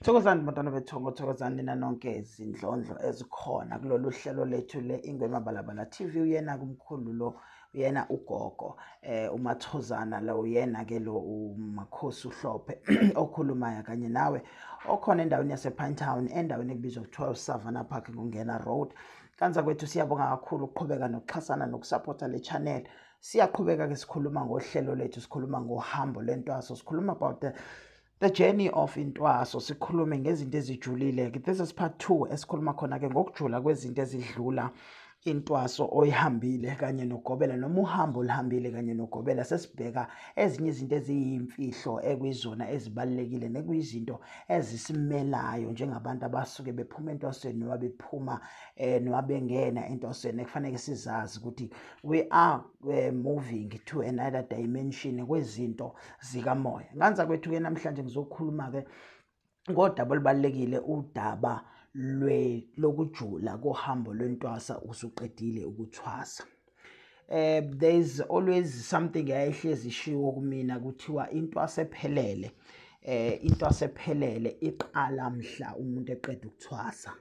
Thokozani bantwana bethongo, thokozani nina nonke izindlondlo ezikhona kulolu hlelo lethu le-Ingwema Balabala TV. Uyena kumkhulu lo, uyena ugogo eh uMathozana lo, uyena ke lo uMakhosi uHlophe okhulumayo kanye nawe okhona endaweni yasePine Town endaweni ekubizwa kuthiwa uSavannah Park ngongena road. Kanza kwethu siyabonga kakhulu ukuqhubeka nokuxhasana nokusapotha le channel. Siyaqhubeka ke sikhuluma ngohlelo lethu, sikhuluma ngohambo lentwaso, sikhuluma about the The journey of intwaso sikhulume ngezinto ezijulile ke this is part 2 esikhuluma khona ke ngokujula kwezinto ezidlula intwaso oyihambile kanye nogobela noma uhambo olihambile kanye nogobela sesibheka ezinye izinto eziyimfihlo ekwizona ezibalekile nekuyizinto ezisimelayo njengabantu abasuke bephuma entwasweni noma bephuma eh noma bengena entwasweni ekufanele sizazi ukuthi we are uh, moving to another dimension kwezinto zikamoya nganza kwethu-ke namhlanje ngizokhuluma-ke ngodaba olubalulekile udaba lokujula kohambo lwentwasa usuqedile ukuthwasa eh there is always something eyayihlezi ishiwo kumina kuthiwa into asephelele eh into asephelele iqala mhla umuntu eqeda ukuthwasa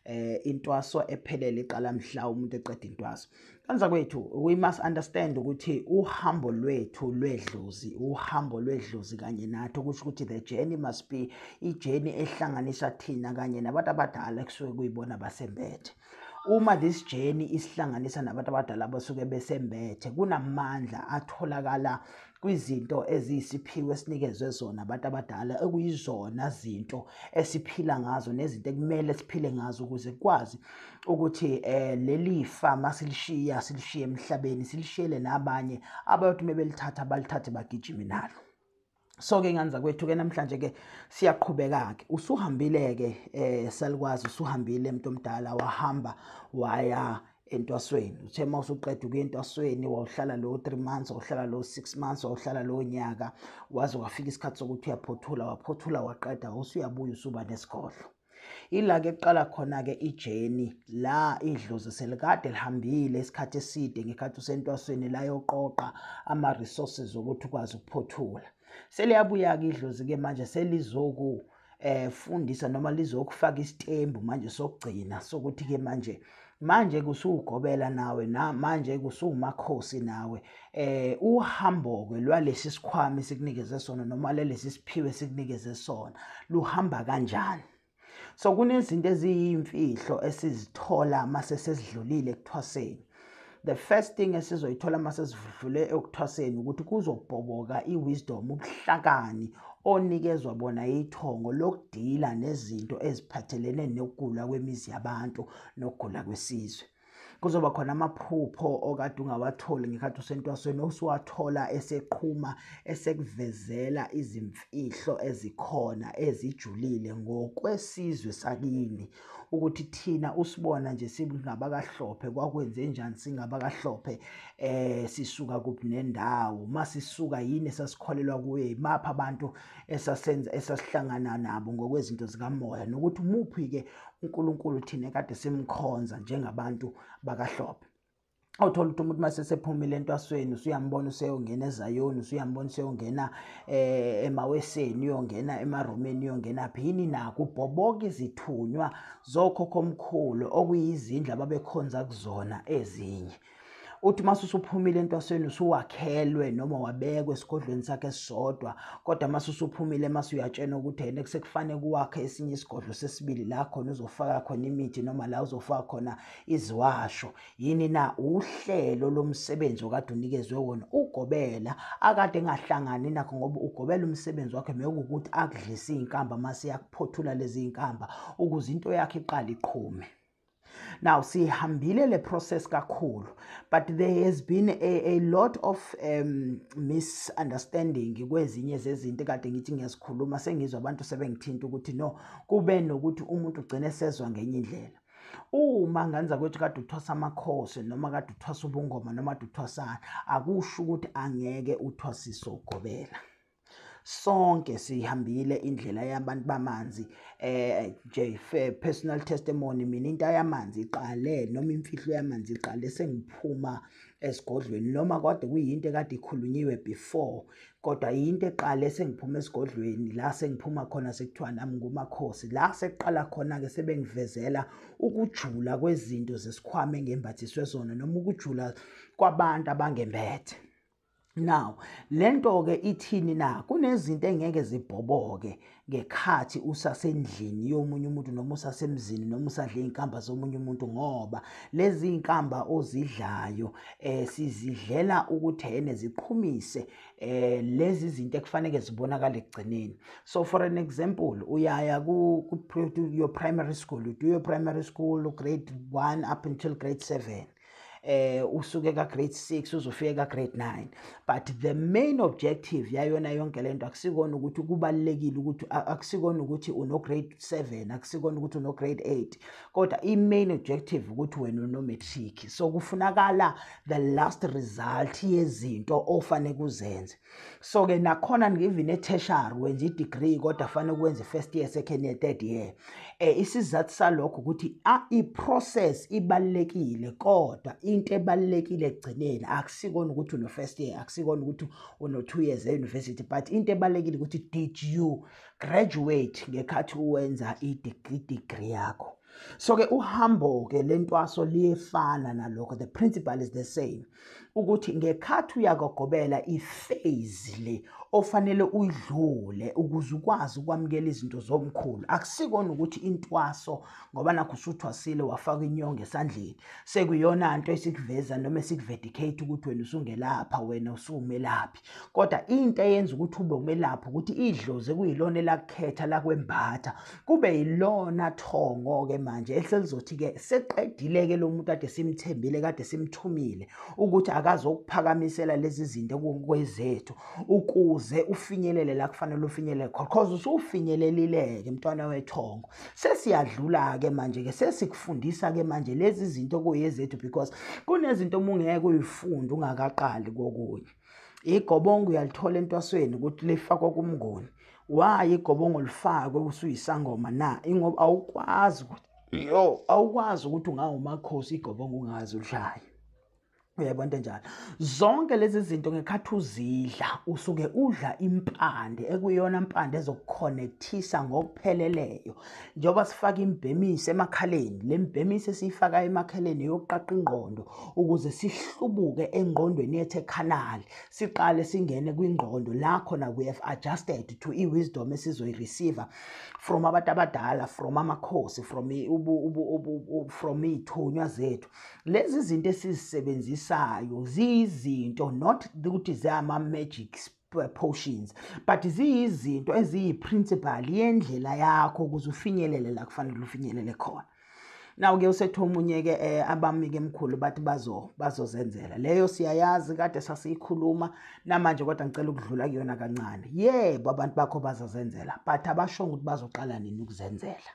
eh intwaso ephelele iqala mhla umuntu eqeda intwaso kanza kwethu we must understand ukuthi uhambo lwethu lwedlozi uhambo lwedlozi kanye nathi okusho ukuthi the journey must be ijeni ehlanganisa thina kanye nabantu abadala kusuke kuyibona basembethe uma this journey isihlanganisa nabantu abadala abasuke besembethe kunamandla atholakala kwizinto eziyisiphiwo esinikezwe zona abantu abadala ekuyizona zinto esiphila ngazo nezinto ekumele siphile ngazo ukuze kwazi ukuthi eh leli fa masilishiya silishiye emhlabeni silishiyele nabanye abayothi uma belithatha balithathe bagijime nalo so-ke ngani zakwethu-ke namhlanje-ke siyaqhubeka-ke usuhambile-ke um eh, salikwazi usuhambile mntu omdala wahamba waya entwasweni uthe uma usuqeda ukuya entwasweni wawuhlala lowo three months wawuhlala lowo six months wawuhlala lowo nyaka waze wafika isikhathi sokuthi uyaphothula waphothula waqeda usuyabuya usuba nesigodlo ila-ke kuqala khona-ke ijeni la idlozi selikade lihambile isikhathi eside ngekhathi usentwasweni layoqoqa ama-resources okuthi ukwazi ukuphothula seliyabuya-ke idlozi-ke manje selizoku eh fundisa noma lizokufaka isitembu manje sokugcina sokuthi ke manje manje kusuwugobela nawe na manje kusuwumakhosi nawe eh uhamboke lwalesi sikhwama esikunikeze sona noma lelesi siphiwe esikunikeze sona luhamba kanjani so kunezinto eziyimfihlo esizithola mase sesidlulile ekuthwaseni the first thing esizoyithola uma sesidlule ekuthwaseni ukuthi kuzobhoboka i-wisdom ubuhlakani onikezwa bona ithongo lokudila nezinto eziphathelene nokugula kwemizi yabantu nokugula kwesizwe kuzoba khona amaphupho okade ungawatholi ngekhathi usentwasweni osuwathola eseqhuma esekuvezela izimfihlo ezikhona ezijulile ngokwesizwe sakini ukuthi thina usibona nje singabakahlophe kwakwenze njani singabakahlophe eh sisuka kuphi nendawo masisuka yini esasikholelwa kuye imaphi abantu esasenza esasihlangana nabo ngokwezinto zikamoya nokuthi umuphi ke uNkulunkulu thina kade simkhonza njengabantu bakahlophe awuthola ukuthi umuntu mase sephumile entwasweni usuyambona useyongena ezayoni usuyambona useyongena eh emaweseni uyongena emaromeni uyongena phi yini naku bhoboka izithunywa zokhokho omkhulu okuyizindla babekhonza kuzona ezinye uthi mase usuphumile entwasweni usuwakhelwe noma wabekwe esigodlweni sakhe esisodwa kodwa mase usuphumile mase uyatshena ukuthi yena kusekufanele kuwakhe esinye isigodlo sesibili la khona uzofaka khona imithi noma la uzofaka khona Iziwasho yini na uhlelo lomsebenzi okade unikezwe wona ugobela akade engahlangani nakho ngoba ugobela umsebenzi wakhe mekuwukuthi akudlisa izinkamba mase yakuphothula lezi zinkamba ukuze into yakhe iqale iqhume now sihambile le process kakhulu but there has been a, a lot of um, misunderstanding kwezinye zezinto kade ngithi ngiyazikhuluma sengizwa abantu sebengithinta ukuthi no kube nokuthi umuntu ugcine sezwa ngenye indlela uma ngenza kwethu kade uthwasa amakhosi noma kade uthwasa ubungoma noma kade uthwasana akusho ukuthi angeke uthwasise ugobela sonke sihambile indlela yabantu bamanzi eh JFE personal testimony mina into yamanzi iqale noma imfihlo yamanzi iqale sengiphuma esigodlweni noma kodwa kuyinto ekade ikhulunyiwe before kodwa yinto eqale sengiphuma esigodlweni la sengiphuma khona sekuthiwa nami ngumakhosi la sekuqala khona-ke sebengivezela ukujula kwezinto zesikhwama engembathiswe zona noma ukujula kwabantu abangembethe now le nto-ke ithini na kunezinto engeke zibhoboke ngekhathi usasendlini yomunye umuntu noma usasemzini noma usadla iy'nkamba zomunye umuntu ngoba lezi y'nkamba ozidlayo um sizidlela ukuthi hene ziqhumise um lezi zinto ekufaneke zibonakale ekugcineni so for an example uyaya ku-your primary school udo your primary school grade one up until grade seven um eh usuke ka grade 6 uzofika ka grade 9 but the main objective yayona yonke lento akusikona ukuthi kubalekile ukuthi akusikona ukuthi uno grade 7 akusikona ukuthi uno grade 8 kodwa i main objective ukuthi wena uno matric so kufunakala the last result yezinto ofanele kuzenze so ke nakhona even e-tertiary wenza i-degree kodwa fanele kwenze first year second year third year eh isizathu salokho ukuthi ah, i-process ibalekile kodwa into ebalekile ekugcineni akusikona ukuthi uno first year akusikona ukuthi uno 2 years e-university but into ebalekile ukuthi did you graduate ngekhathi uwenza i-degree yakho so ke uhambo ke lentwaso liyefana nalokho the principle is the same ukuthi ngekhathi uyakogobela iphase le ofanele uyidlule ukuze ukwazi ukwamukela izinto zomkhulu akusikona ukuthi intwaso ngoba nakho usuthwasile wafaka inyongo esandleni sekuyona nto esikuveza noma esikuvedikhate ukuthi wena usungelapha wena usuwumelaphi kodwa into eyenza ukuthi ube umelaphi ukuthi idlozi kuyilona elakukhetha lakwembatha kube yilona thongo-ke manje eselizothi-ke seqedile-ke lo muntu kade simthembile kade simthumile ukuthi akazokuphakamisela lezi zinto kwezethu ukuze ufinyelele la kufanele ufinyelele khona cause usufinyelelile-ke mntwana wethongo sesiyadlula-ke manje-ke sesikufundisa-ke manje lezi zinto kuyezethu because kunezinto uma ungeke uyifunde ungakaqali kokunye igobongo uyalithola entwasweni ukuthi lifakwa kumngoni waye igobongo lifakwe usuyisangoma na ingoba awukwazi ukuthi yo awukwazi ukuthi ungawumakhosi igobongo ungazi udlayo uyayibona into enjalo zonke lezi zinto ngekhathi uzidla usuke udla impande ekuyona mpande ezokukhonethisa ngokupheleleyo njengoba sifaka imbhemisi emakhaleni le mbhemisi esiyifaka emakhaleni yokuqaqa ingqondo ukuze sihlubuke engqondweni yethu ekhanali siqale singene kwingqondo la khona we have adjusted to i-wisdom esizoyireceiva from abantu abadala from amakhosi from from iy'thunywa zethu lezi zinto esizisebenzisayo ziyizinto not ukuthi ziyama-magic potions but ziyizinto eziyi-principal yendlela yakho ukuze ufinyelele la kufanele ufinyelele khona naw-ke usethe omunye-ke um eh, abami-ke mkhulu bathi bazozenzela leyo siyayazi kade sasiyikhuluma namanje kodwa ngicela ukudlula kuyona kancane yebo abantu bakho bazozenzela but abashongo ukuthi bazoqala nini ukuzenzela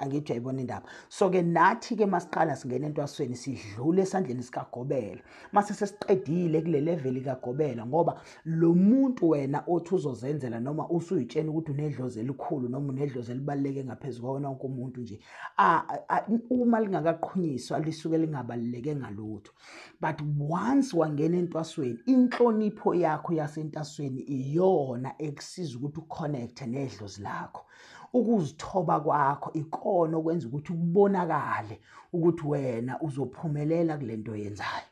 angithi uyayibona indaba so ke nathi ke masiqala singena entwasweni sidlule esandleni sikagobela mase sesiqedile kule level kagobela ngoba lo muntu wena othi uzozenzela noma usuyitshena ukuthi unedlozi elikhulu noma unedlozi elibaluleke ngaphezu kwawona wonke umuntu nje uma lingakaqhunyiswa lisuke lingabaluleke ngalutho but once wangena entwasweni inhlonipho yakho yasentasweni iyona ekusiza ukuthi uconnecte nedlozi lakho ukuzithoba kwakho ikona okwenza ukuthi kubonakale ukuthi wena uzophumelela kule nto yenzayo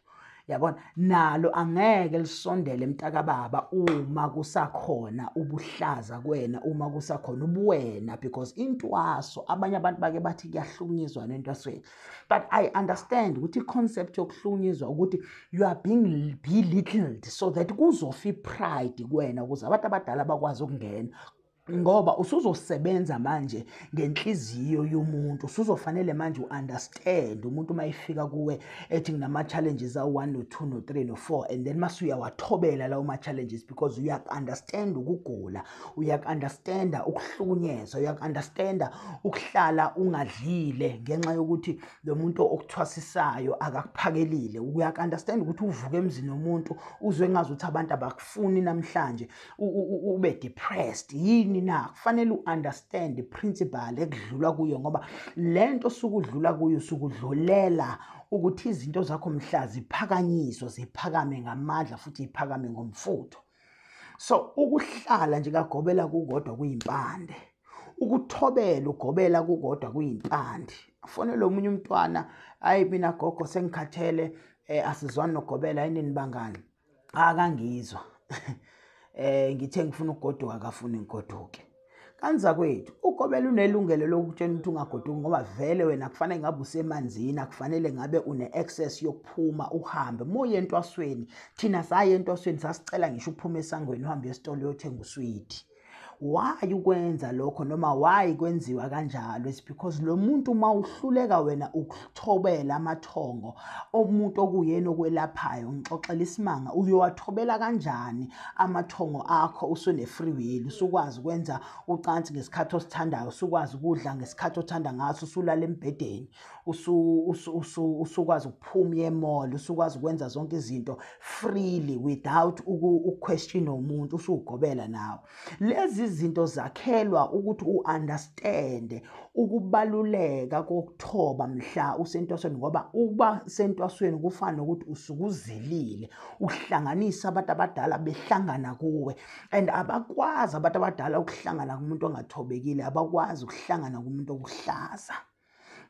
yabona nalo angeke lisondele mntakababa uma kusakhona ubuhlaza kwena uma kusakhona ubuwena because intwaso abanye abantu bake bathi kuyahlukunyezwa nentwasweni but i understand ukuthi i-concept yokuhlukunyezwa ukuthi you are being belittled so that kuzofa i-pride kwena ukuze abantu abadala bakwazi ukungena ngoba usuzosebenza manje ngenhliziyo yomuntu usuzofanele manje u-understand umuntu uma efika kuwe ethi nginama-challenges awu-one no-two no-three no-four and then mase uyawathobela lawo ma-challenges because uyaku-understand ukugula uyaku-understanda ukuhlukunyezwa uyaku-understanda ukuhlala ungadlile ngenxa yokuthi lo muntu okuthwasisayo akakuphakelile uyaku-understand ukuthi uvuke emzini womuntu uzwe engazi ukuthi abantu abakufuni namhlanje ube depressed yini na kufanele uunderstand iprinciple ekudlulwa kuyo ngoba lento sukudlula kuyo sukudlulela ukuthi izinto zakho mhla ziphakanyiswa ziphakame ngamandla futhi iphakame ngomfutho so ukuhlala nje kagobela kukodwa kuyimpande ukuthobela ugobela kukodwa kuyimpande afonele omunye umntwana ayi mina gogo sengikhathele um asizwani nogobela yinini bangani cha kangizwa eh ngithe ngifuna ukugoduka akafuni ngigoduke kanza kwethu ugobela unelungelo lokutshela ukuthi ungagoduki ngoba vele wena kufanele ngabe usemanzini akufanele ngabe une-access yokuphuma uhambe moye entwasweni thina saye entwasweni sasicela ngisho ukuphuma esangweni uhambe esitolo uyothenga uswidi why ukwenza lokho noma why kwenziwa kanjalo is because lo muntu uma uhluleka wena ukuthobela amathongo omuntu okuyena okwelaphayo ngixoxela isimanga uyowathobela kanjani amathongo akho usune-free will usukwazi ukwenza ucansi ngesikhathi osithandayo usukwazi ukudla ngesikhathi othanda ngaso usulala embhedeni usukwazi ukuphuma yemall usukwazi ukwenza zonke izinto freely without uquestion umuntu usugobela nawo lezi zinto zakhelwa ukuthi uunderstande ukubaluleka kokuthoba mhla usentwasweni ngoba uba sentwasweni kufana nokuthi usukuzelile uhlanganisa abantu abadala behlangana kuwe and abakwazi abantu abadala ukuhlangana kumuntu ongathobekile abakwazi ukuhlangana kumuntu okuhlaza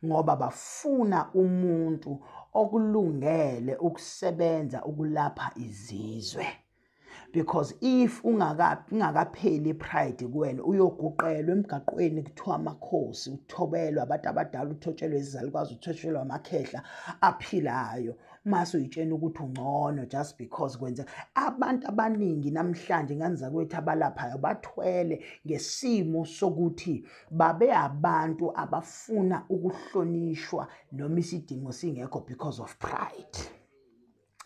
ngoba bafuna umuntu okulungele ukusebenza ukulapha izizwe because if ungakapheli pride kuwena uyoguqelwa emgaqweni kuthiwa amakhosi uthobelwa abantu abadala uthotshelwe izalukazi uthotshelwa amakhehla aphilayo mase uyitshena ukuthi ungcono just because kwenze abantu abaningi namhlanje ngani zakwethu abalaphayo bathwele ngesimo sokuthi babe abantu abafuna ukuhlonishwa noma isidingo singekho because of pride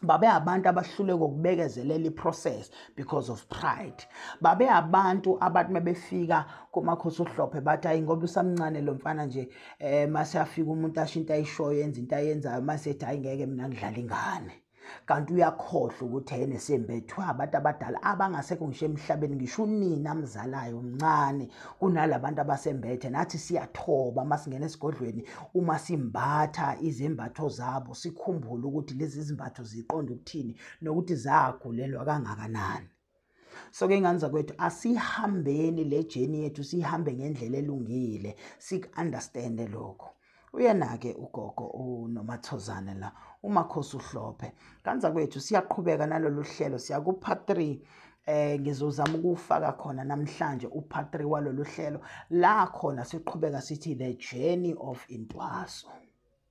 babe abantu abahluleka ukubekezelela iprocess because of pride babe abantu abathi mebefika komakhosi uhlophe bathi hayi ngoba usamncane lo mfana nje um mase afika umuntu asho into ayishoyo enza into ayenzayo mase ethi hayi ngeke mina ngidlala ingane kanti uyakhohlwa ukuthi yena esembethwa abantu abadala abangasekho ngisho emhlabeni ngisho unini amzalayo mncane kunalabantu abasembethe nathi siyathoba masingena esigodlweni uma simbatha izembatho zabo sikhumbule ukuthi lezi zimbatho ziqonda ukuthini nokuthi zagulelwa kangakanani so ke ingane zakwethu asihambeni le journey yethu sihambe ngendlela elungile siku-understande lokho uyena-ke ugogo unomathozane la umakhosi uhlophe ngane zakwethu siyaqhubeka nalolu hlelo siyakupart three eh ngizozama ukufaka khona namhlanje upart 3 walolu hlelo la khona siqhubeka sithi the journey of intwaso